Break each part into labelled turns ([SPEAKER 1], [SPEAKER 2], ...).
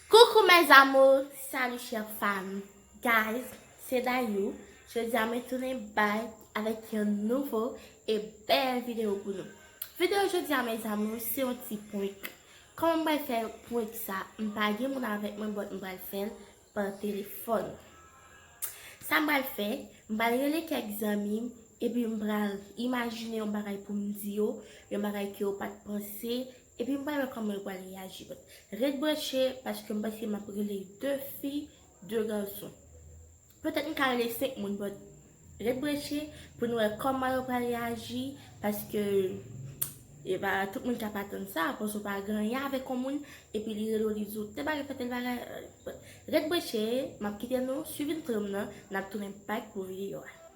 [SPEAKER 1] Coucou mes amours salut chère femme guys se Dayou jodia mwen tounen bay avèk yon nouvo e bèl video pou nou video jodia mes amours se yon ti prank kòman mwen fè prank sa m pa gen moun avèk mwen but m pral fèl pa telefòn sa m pral fè m pral rele kèk zanmi m epi m pral imajine yon bagay pou m di yo yon bagay ke yo pat panse Epi m pa wè kòman yo pral reyaji but ret branche paske m panse m ap rele 2 fi 2 gason petèt m ka rele 5 moun but ret branche pou nou wè kòman yo pral reyaji paske e pa tout moun k ap atann sa panse w pa granyen avèk on moun epi li rele w li di w tèl bagay fè tèl bagay but ret branche m ap kite nou swiv intro m nan n ap tounen back pou video a.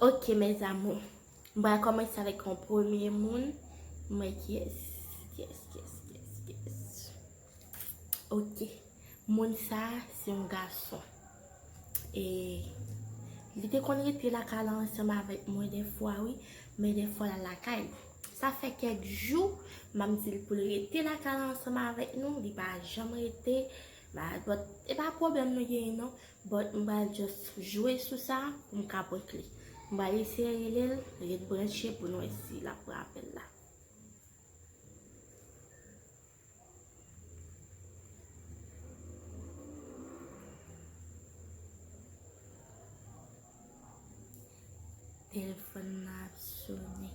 [SPEAKER 2] Ok
[SPEAKER 1] mes amour m pral komanse avek yon premye moun mwen ki yes yes yes yes yes ok moun sa se yon gason e li te konn rete lakay la ansanm avek mwen defwa wi men defwa la lakay sa fe kek jou map dil poul rete lakay la ansanm avek nou li pa janm rete ba but e pa problem nou genyen non But m pral just jwe sou sa pou m ka prank li. M pral eseye rele l, ret branche pou n wè si l ap pran apèl la. Telefòn nan ap sone.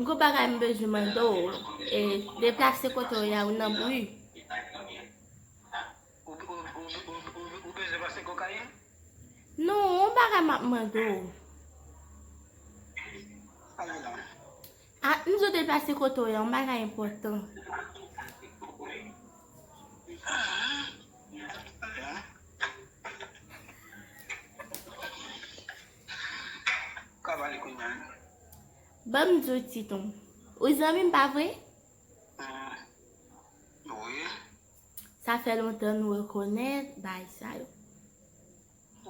[SPEAKER 3] Gwo
[SPEAKER 1] bagay m bezwen mande w, e deplase kote w ye a ou nan bri. Ou
[SPEAKER 3] bezwen pase kokayin? Non,
[SPEAKER 1] yon bagay m ap mande w.
[SPEAKER 3] Ah Izo
[SPEAKER 1] deplase kote w yon bagay enpòtan.
[SPEAKER 3] Banm
[SPEAKER 1] diw ti ton. Ou zanmi m pa vre?
[SPEAKER 3] Sa
[SPEAKER 1] fè lontan nou rekonèt bay sa yo.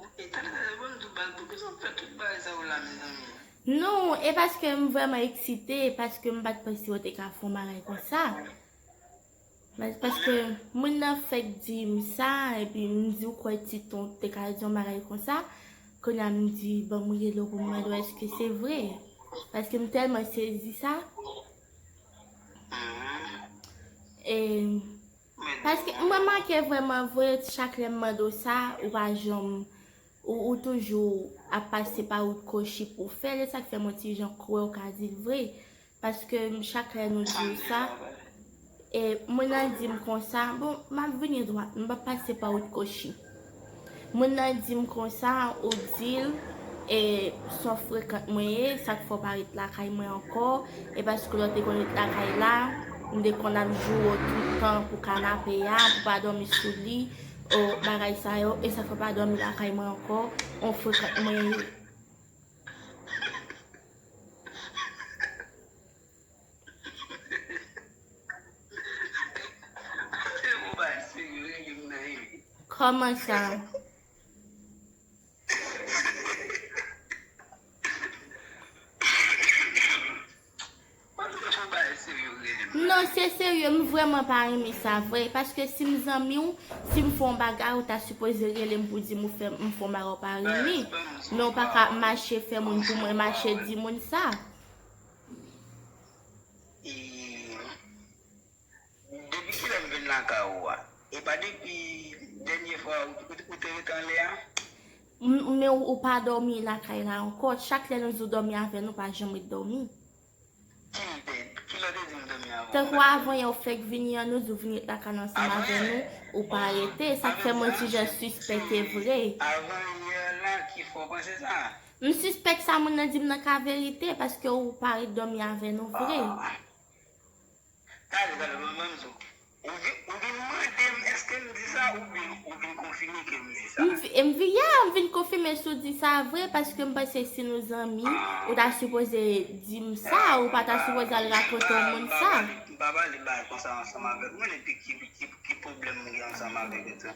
[SPEAKER 3] Epi tande tande banm tout baz poukisa wap fè tout bagay sa yo la mezanmi. Nou e paske
[SPEAKER 1] m vreman eksite paske m pat panse yo te ka fon bagay konsa mas paske moun nan fek dim sa epi m di ou kwe ti ton te ka di yon bagay konsa kounya m di bon m rele w pou m mande w eske se vre paske m telman sezi sa e Paske m remake vreman vre chak lèm mande w sa ou pa janm ou toujou ap pase pa wout kochi pou w fèl esak fèm yon ti jan kwè w ka dil vre paske chak lè nou di w sa e moun nan dim konsa bon map vini dwat m pap pase pa wout kochi. Moun nan dim konsa ou dil e sò frekant mwen ye sak fè w pa ret lakay mwen ankò e paske lè w te konn ret lakay la m te konn ap joure w toutan pou kanape a pou pa dòmi sou li o bagay sa yo e sak fè w pa dòmi lakay mwen ankò on frekant mwen ye.
[SPEAKER 3] Kòman sa?
[SPEAKER 1] Non se serye m vreman pa renmen sa vre Paske si m zanmi w si m fè yon bagay ou ta sipoze rele m pou di m ou fè m fè yon bagay ou pa renmen Men ou pa ka ap mache fè moun pou mwen mache di moun sa
[SPEAKER 3] Depi kilè m vin lakay ou a? E pa depi dènye fwa ou te ret anlè a?
[SPEAKER 1] Men ou pa dòmi lakay la ankò. Chak lè nou di w dòmi avè nou, ou pa janm ret dòmi.
[SPEAKER 3] Ki lè ou te di m dòmi avè w? Tankou avanyè ou fèk
[SPEAKER 1] vini an, nou di w vin ret lakay la ansanm avè nou, ou pa rete. Sa k fè mwen di jan sispèk e vre. Avanyè
[SPEAKER 3] la ki fè w panse sa? M sispèk sa
[SPEAKER 1] moun nan dim nan ka verite paske ou pa ret domi avè nou vre. Aah Tale
[SPEAKER 3] tale mwen banm di w ou vin mandem eske m di sa oubyen ou vin konfime ke m di sa. M vin ya m vin
[SPEAKER 1] konfime si w di sa vre paske m panse si nou zanmi ou ta sipoze dim sa ou pa ta sipoze al rakonte yon moun sa. M pa pale bagay
[SPEAKER 3] konsa ansanm avèk moun epi ki pwoblèm m gen ansanm avèk yo tou.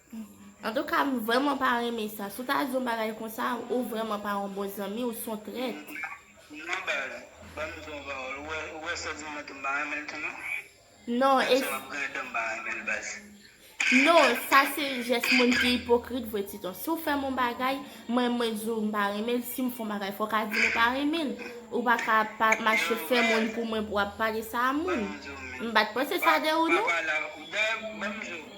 [SPEAKER 3] Antouka
[SPEAKER 1] m vrèman pa renmen sa. Si w ta di yon bagay konsa, ou vrèman pa yon bon zanmi, ou son trèt. Non baz, ban
[SPEAKER 3] m di w yon pawòl, ou wè sè Diman tou m pa renmen l tou non. Non, e.
[SPEAKER 1] Menm si m ap griyen dan m pa renmen l baz. Non, sa se jès moun ki ipokrit vre Titon. Si w fè m yon bagay, mwen mwen di w m pa renmen l, si m fè w yon bagay fò w ka di m ou pa renmen l. Ou pa ka ap mache fè moun pou mwen pou w ap pale sa a moun. M pa t panse sa de ou non. Dayè, ban m di w.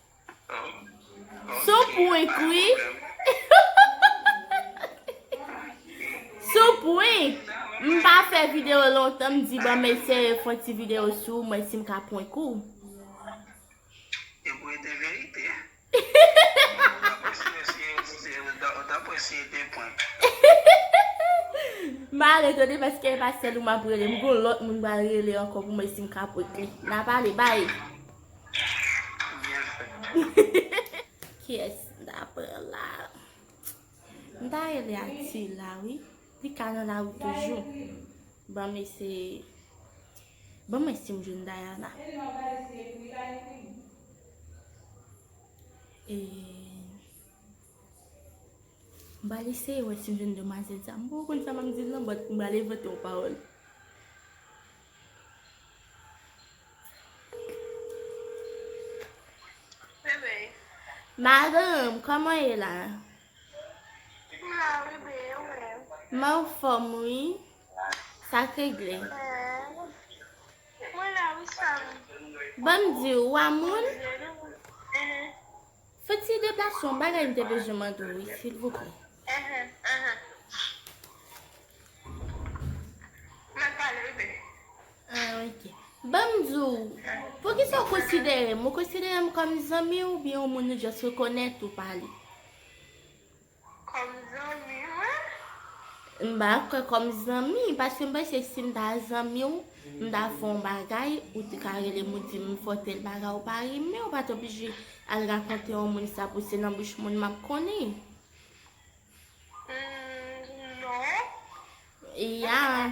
[SPEAKER 1] Sou pwen kwi. Sou pwen. M pa fè video lontan m di banm ese fon ti video sou mwen si m ka pwen kou. Yo
[SPEAKER 3] pou ete verite. Ou ta pwen si ete pwen.
[SPEAKER 1] Ma ale tande paske e pa sèl ou m ap rele. M gon lòt moun m pral rele ankò pou mwen si m ka pwen kli. N a pale bay.
[SPEAKER 3] Kiyès
[SPEAKER 1] m ta pran la? M ta rele Atila wi. Li ka nan lari toujou. Ban m eseye. Ban m wè si m jwenn Dayana. E M pral eseye wè si m jwenn demwazèl sa. M poko konn sa m ap di l nan, but m pral envante yon pawòl.
[SPEAKER 4] Madanm,
[SPEAKER 1] kòman ye la?
[SPEAKER 4] Mwen an fòm
[SPEAKER 1] wi. Sa k regle?
[SPEAKER 4] Bon m di
[SPEAKER 1] ou, ou a moun?
[SPEAKER 4] Fè
[SPEAKER 1] ti deplase yon bagay m te bezwen mande w wi silvouplè. Ban m di w, poukisa w konsidere m? Ou konsidere m kòm zanmi w oubyen yon moun ou just rekonèt ou pale? Kòm
[SPEAKER 4] zanmi wi. M pa kwè kòm
[SPEAKER 1] zanmi, paske m panse si m ta zanmi w, m ta fè yon bagay, ou te ka rele m ou di m m fè w tèl bagay ou pa renmen, ou pa t oblije al rakonte yon moun sa pou se nan bouch moun m ap konnen. Hum non.
[SPEAKER 4] Ya.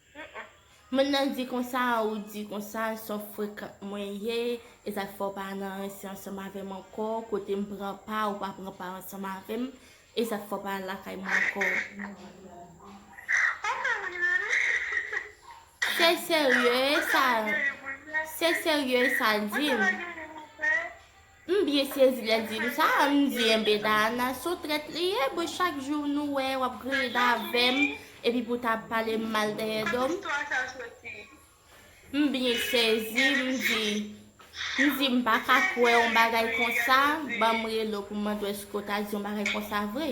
[SPEAKER 4] Moun
[SPEAKER 1] nan di konsa ou di konsa sò frekant mwen ye ezat fò pa nan rense ansanm avèm ankò kotem pran pa ou pa pran pa ansanm avèm ezat fò pa al lakay mwen ankò. Se serye e sa l di m. M byen sezi lèl di m sa m di enben Dayana son trèt li ye bon chak jou nou wè wap griyen avèm epi pou ta palem mal dèyè do m m byen sezi m di m di m paka kwè yon bagay konsa banm rele w pou m mande w èske w ta di yon bagay konsa vre.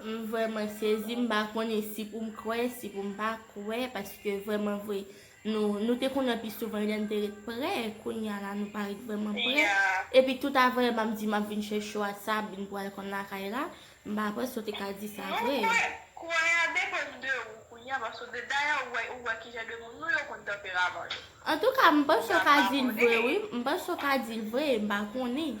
[SPEAKER 1] M vrèman sezi m pa konnen si pou m kwè si pou m pa kwè paske vrèman vre nou nou te konnen pi souvan lè n te ret prè kounya la nou pa ret vrèman prè epi tout avre m ap di m ap vin chèche w a sa ap vin pral konn lakay la m pa panse w te ka di sa vre. Non kwè kwè a
[SPEAKER 4] depann de ou kounya paske ou te dayè ou wè ou wè ki jan de moun nou yo konn tanperaman yo. Antouka m
[SPEAKER 1] panse w ka di l vre wi m panse w ka di l vre m pa konnen.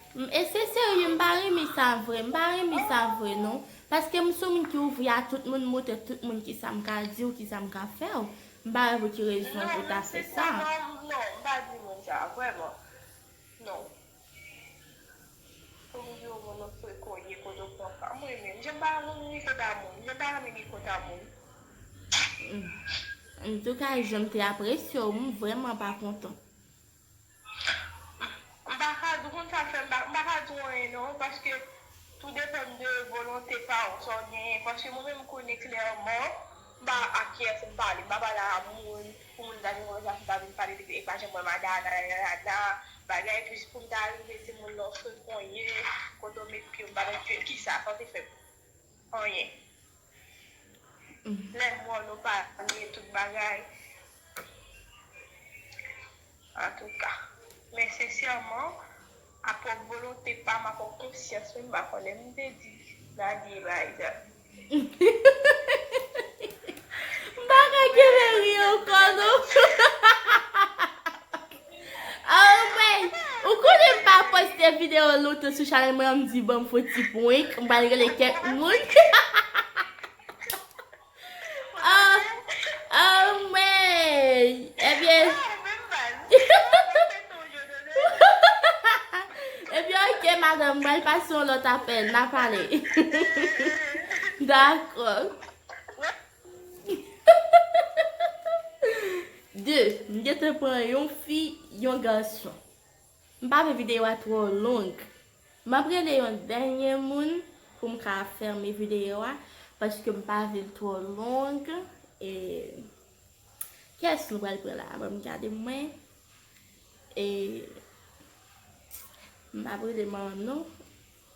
[SPEAKER 1] M ese serye m pa renmen sa vre m pa renmen sa vre non paske m sou moun ki ouvri a tout moun m montre tout moun kisa m ka diw kisa m ka fèw m pa wè pou ki rezon ou ta fè sa. Non mesi papa non m pa di moun sa vreman non pou m diw moun ou se
[SPEAKER 4] koye kote ou pran sa m renmen m jan m pa
[SPEAKER 1] renmen m ri kòt a moun m jan m pa renmen m ri kòt a moun. Antouka jan m te apresyew m vreman pa kontan. M pa ka di w konn sa
[SPEAKER 4] fè m pa m pa ka di w anyen non paske tou depann de volonte pa w sa w genyen paske mwen menm m konnen klèman m pa ak kiyès m pale m pa pale a moun pou moun ta vin wè sa m ta vin pale depi e pa janm wè m a nananana bagay plis pou m ta rive di moun lè w frekon ye kote w met pye w m pa met pye m kisa sa w te fè m. Anyen. Menm mo nou pa bliye tout bagay. Antouka. Men sensèman, a pwòp volonte pa m, a pwòp konsyans mwen, m pa konnen m te di Nadie Elisa.
[SPEAKER 1] M pa ka kenbe ri ankò non. Anmweyy Ou konnen m pa poste video lontan sou chanel mwen an m di banm fon ti prank m pral rele kèk moun Anmweyy Ebyen Ebyen ok madanm m pral pase yon lòt apèl na pale Dakò. 2 m gentan pran yon fi yon gason m pa vle videyo a twò long m ap rele yon dènye moun pou m ka fèmen videyo a paske m pa vle l twò long e kiyès nou pral pran la a ban m gade mwen e m pa vle manno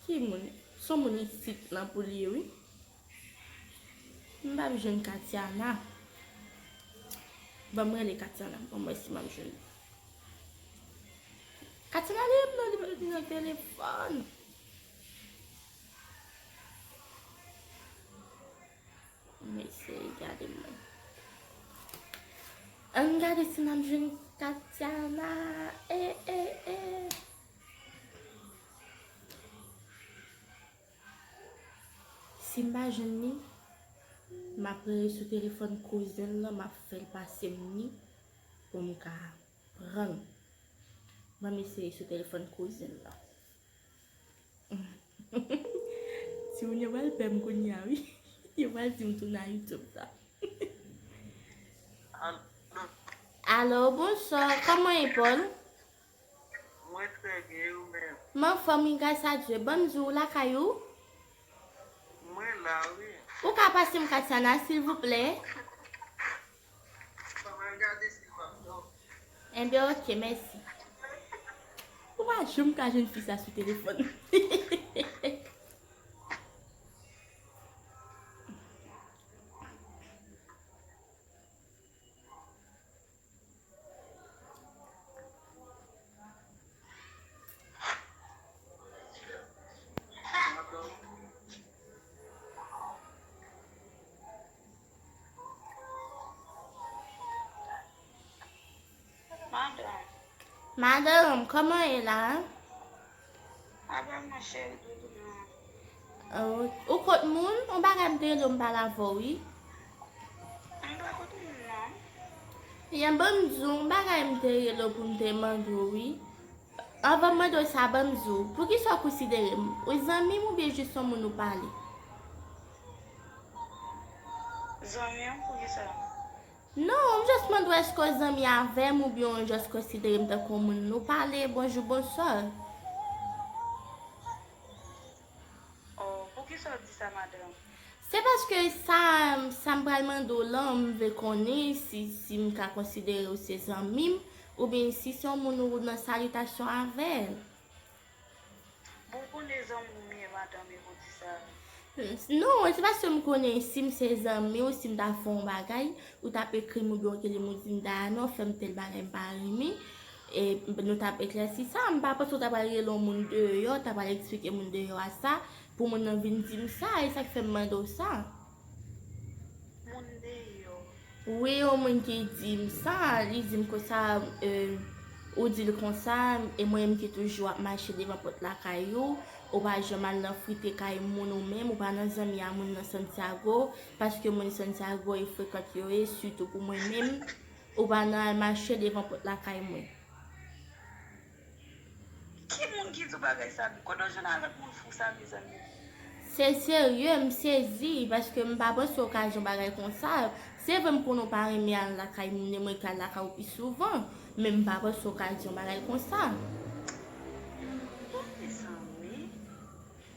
[SPEAKER 1] Ki moun? Son moun isit lan pou li ye wi. M pap jwenn Katiana. Banm rele Katiana banm wè si map jwenn li. Katiana li menm nan li pral vin ak telefòn. M eseye gade mwen. Ann gade si map jwenn Katiana. E e e. Si m pa jwenn li, m ap rele sou telefòn kouzen m nan, m ap fè l pase m li pou m ka pran l. Ban m eseye sou telefòn kouzen m nan. Timoun yo pral pè m kounye a wi. Yo pral di m tounen a Youtube la. Alo, bonswa. Kòman e Pòl?
[SPEAKER 3] Mwen trè byen e ou menm? M anfòm wi gras
[SPEAKER 1] a Dye. Banm di ou lakay ou?
[SPEAKER 3] Mwen la wi. Ou ka pasem
[SPEAKER 1] Katiana silvouplè? Bon mwen al gade sil
[SPEAKER 3] pap dòmi. Enben ok
[SPEAKER 1] mèsi. Ou pa janm ka jwenn fi sa sou telefòn. Madanm, kòman e la?
[SPEAKER 4] Abonne nan chen doudou m nan. Oh ou kot
[SPEAKER 1] moun? On bagay m te rele w m pale avè w wi.
[SPEAKER 4] M pa kot moun non. Ebyen
[SPEAKER 1] ban m di w on bagay m te rele w pou m te mande w wi. Anvan m mande w sa ban m di w poukisa w konsidere m ou zanmi m oubyen jis on moun ou pale?
[SPEAKER 4] Zanmi w poukisa? Non, m
[SPEAKER 1] just mande w eske w zanmi avè m oubyen w just konsidere m tankou yon moun nou pale bonjou bonswa. Oh,
[SPEAKER 4] poukisa w di sa madanm? Se paske
[SPEAKER 1] sa, sa m pral mande w lan, m vle konnen si, si m ka konsidere w se zanmi m, oubyen si se yon moun ou nan salitasyon avè l. Bon ou
[SPEAKER 4] konnen zanmi ou byen madanm e pou di sa a. Non
[SPEAKER 1] se paske m konnen si m se zanmi ou si m ta fè yon bagay ou tap ekri m oubyen w tele m ou di m Dayana fè m tèl bagay m pa renmen e nou tap eklèsi sa a m pa panse ou ta pral rele yon moun deyò ta pral eksplike moun deyò a sa pou moun nan vin di m sa e sak fè m mande w sa.
[SPEAKER 4] moun deyò. Wi yon moun
[SPEAKER 1] ki dim sa li dim konsa ou dil konsa e mwen menm ki toujou ap mache devan pòt lakay ou ou pa janm al nan frite kay moun ou menm ou pa nan zanmi a moun nan santiago paske moun santiago e frekant yo ye sitou pou mwen menm ou pa nan al mache devan pòt lakay mwen.
[SPEAKER 4] Ki moun ki di w bagay sa m. Kote w jwenn avèk moun fou sa mezanmi. Se
[SPEAKER 1] serye m sezi paske m pa panse w ka jan bagay konsa se vre m konnen w pa renmen al lakay moun e mwen ki al lakay w pi souvan men m pa panse w ka jan bagay konsa. Bon mezanmi.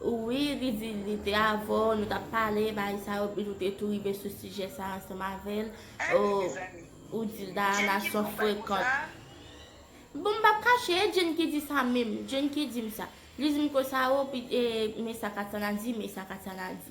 [SPEAKER 4] Wi li di
[SPEAKER 1] li te avèw nou tap pale bagay sa yo epi nou te tou rive sou sijè sa ansanm avèl ooh
[SPEAKER 4] ou dil Dayana
[SPEAKER 1] son frekant bon m pap kache e Jenn ki di sa menm Jenn ki dim sa li dim konsa ooh pi e men sa Katiana di men sa Katiana di.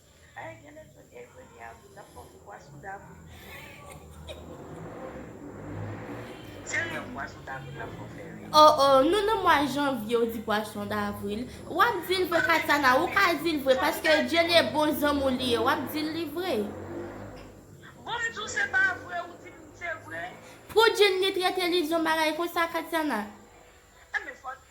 [SPEAKER 1] Ayy gen nèg sot
[SPEAKER 4] e kounye a moun ap fòk pwa sou damou. Serye pwason davril la fò fè ri. Oh oh nou nan mwa
[SPEAKER 1] janvye ou di pwason davril wap dil vre katana ou ka dil vre paske djene bon zanm ou li ye wap dil li vre.
[SPEAKER 4] Bon m diw se pa vre ou dim se vre. Pou Jenny
[SPEAKER 1] trete li di yon bagay konsa Katiana. Enben
[SPEAKER 4] fòk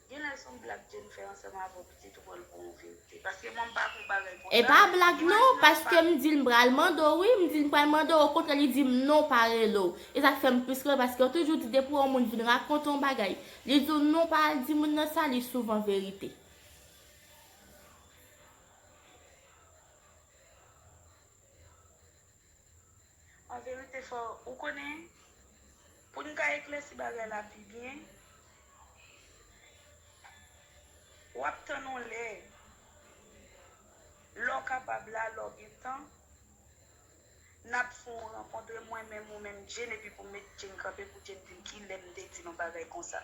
[SPEAKER 4] Genlè son blag Jennifer ansanm avèw pitit ou pral pran yon verite paske mwen mpa konn bagay konsa E pa blag non imajine yon
[SPEAKER 1] paske m dil m pral mandew wi m dil m pral mandew okontrè li dim non pa relew e sak fèm plis riw paskew toujou di depi yon moun vin rakonte yon bagay li diw non pa al di moun nan sa li souvan verite.
[SPEAKER 4] An verite fò ou konnen, pou n ka eklèsi bagay la pi byen,
[SPEAKER 3] w ap tann yon lè, lè w kapab la, lè w gen tan, n ap fè yon rankontre mwen menm ou menm Jane epi pou m met Jane kanpe pou Jane vin ki lè m te di l yon bagay konsa.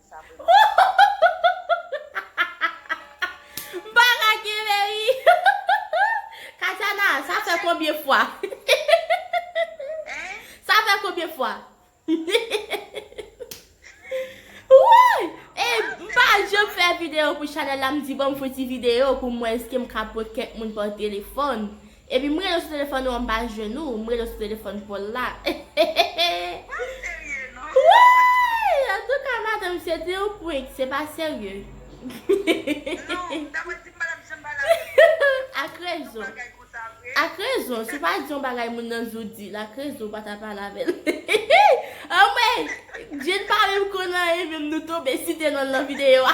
[SPEAKER 1] M pa ka kenbe ri. Katiana, sa fè konbyen fwa? Sa fè konbyen fwa? Woy! E m pa janm fè video pou chanel la m di bon m fon ti video pou m wè eskem ka prank kèk moun pa telefòn. Epi m rele w sou telefòn ou an m pa jwenn ou, m rele w sou telefòn Paul la
[SPEAKER 3] Wouyy
[SPEAKER 1] antouka madanm se te yon prank se pa serye
[SPEAKER 3] Ak rezon Ak rezon si w pa
[SPEAKER 1] di yon bagay moun nan jou di l ak rezon ou pa ta pale avè l Anmwey Djeny pa menm konn anyen menm nou tonbe site nonl nan video a.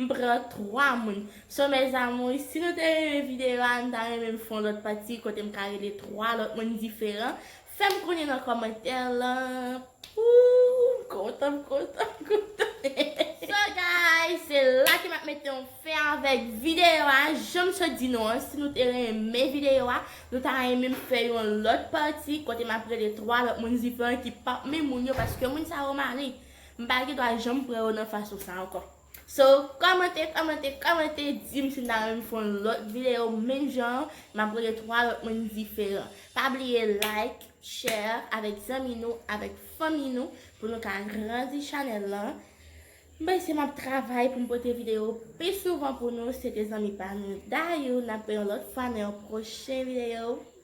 [SPEAKER 1] M pran 3 moun. So mes amours si nou te renmen video a m ta renmen m fè yon lòt pati kote m ka rele 3 lòt moun diferan fèm konnen nan kòmantè lan ooh m kontan m kontan m kontan hehehe so guys se la ke map mete yon fen avèk video a janm sot di nou an si nou te renmen video a nou ta renmen m fè yon lòt pati kote map rele 3 lòt moun diferan ki pap menm moun yo paske moun sa yo mare. M pa gen dwa janm pran yo nan fason sa ankò. So kòmante kòmante kòmante dim si nan renmn fon lòt video menm jan an map rele 3 lòt moun diferan pa bliye like share avèk zanmi nou avèk fanmi nou pou nou ka agrandi chanèl lan m panse map travay poum pote video pi souvan pou nou se te zanmi pa nou Dayou nap wè yon lòt fwa nan yon pwochen video.